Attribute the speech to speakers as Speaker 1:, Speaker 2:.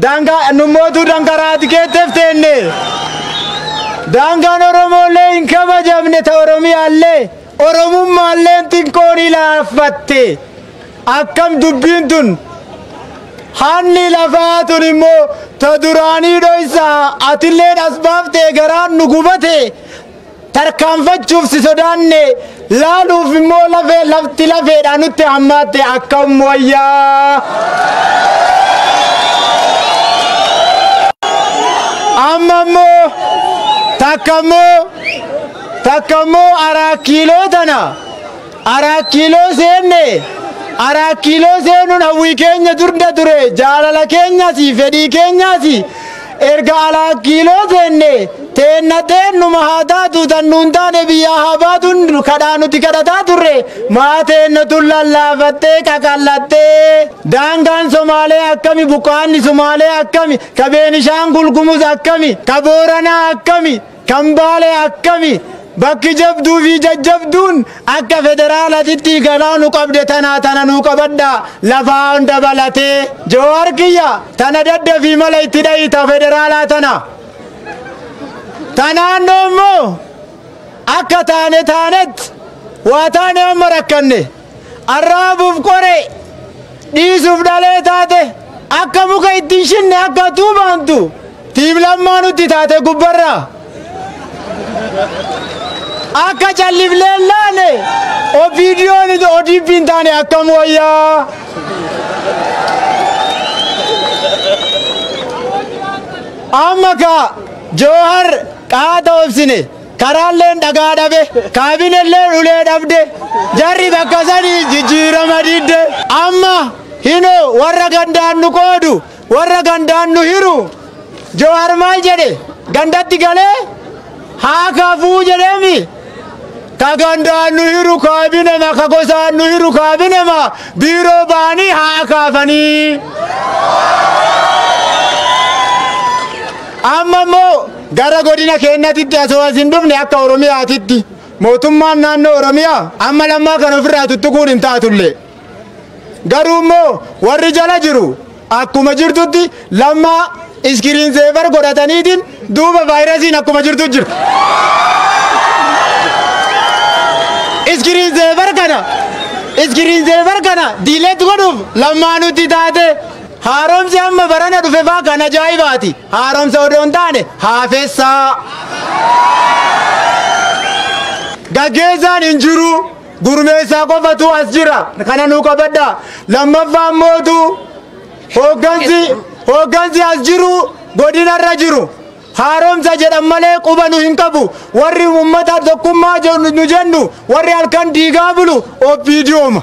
Speaker 1: Daangaa nummootuu dankaraati keettef teenne. Daangaan Oromoolee hin kabajamne ta Oromiyaallee Oromummaalleen xiqqoon ilaaffatte. Akkam dubbiin tun hanni lafaa tun immoo ta duraanii dhoysaa atilleen as baaftee garaan nu gubatee Tarkaanfachuuf si sodaanne, laaluuf immoo lafee lafti lafeedhaan nutti hammaatte akkam wayyaa! Amma immoo takka immoo takka immoo araa kiiloo tana Araat Kiiloo seenne. Araat Kiiloo seenuun hawwii keenya durda ture, jaalala keenyas, fedhii keenyas. Erga Araat Kiiloo seenne, teenna teennuma haa taatu, tan nuun taane biyyaa haa baatuun kadhaa nuti kadhataa turre, maa teenna tun lallaafattee, qaqal'attee. Daangaan Somaalee akkami, buqqaanni Sumaalee akkami, ka Beenishaangul Gumuz akkami, ka Booranaa akkami. Kan Baalee akkami? Bakki jabduu fi jajjabduun akka federaalatitti ganaa nu qabde tanaa tana nuu qabadhaa lafaan dabalatee. Jawaar kiyya tana daddafii mala itti dha'i ta federaalaa tana. Ta naannoo immoo akka taane taanetti waa taane amma rakkanne. Arraabuuf qoree, dhiisuuf dhalee taate, akka muka itti hin shinne akka tuubaantu tiim lammaa nutti taate gubbarraa. Akka callifnee hin laane OPDOn ODP hin taane akkam wayyaa. Amma kaa Joohar qaata obsine. Karaalleen dhagaa dhabe, kaabinelleen ulee dhabde, jarri bakka sanii jijjiirama didde. Amma hinoo warra gandaan nu qoodu, warra gandaan nu hiru. Jowaar maal jedhe? Gandatti galee haa kafuu jedheemi? Ka gandaan nu hiru kaabinema, ka gosaan nu hiru kaabinema, biiroo ba'anii haa kaafanii. Amma immoo Gara godina keennatitti asoo as hin dhufne akka Oromiyaatitti mootummaan naannoo Oromiyaa amma lammaa kan ofirraa tuttuquun hin taatullee garuu immoo warri jala jiru akkuma jirtutti lammaa iskiriin seevar godhataniitiin duuba vaayirasiin akkuma jirtu jirti. Iskiriin seevar kana iskiriin seevar kana diileet godhuuf lammaa nutti taate haaromsi amma barana dhufe faa kan ajaa'ibaati. Haaromsa odoo hin taane haafessa. Gaggeessaan hin jiru. Gurmeessaa qofatu as jira. Kana nuu qabadha. Lammaffaa mootu hooggansi hooggansi as jiru godinarra jiru. Haaromsa jedhan malee quba nu hin qabu. Warri uummata tokkummaa jennu- nu jennu warri halkan diigaa bulu OPDOma.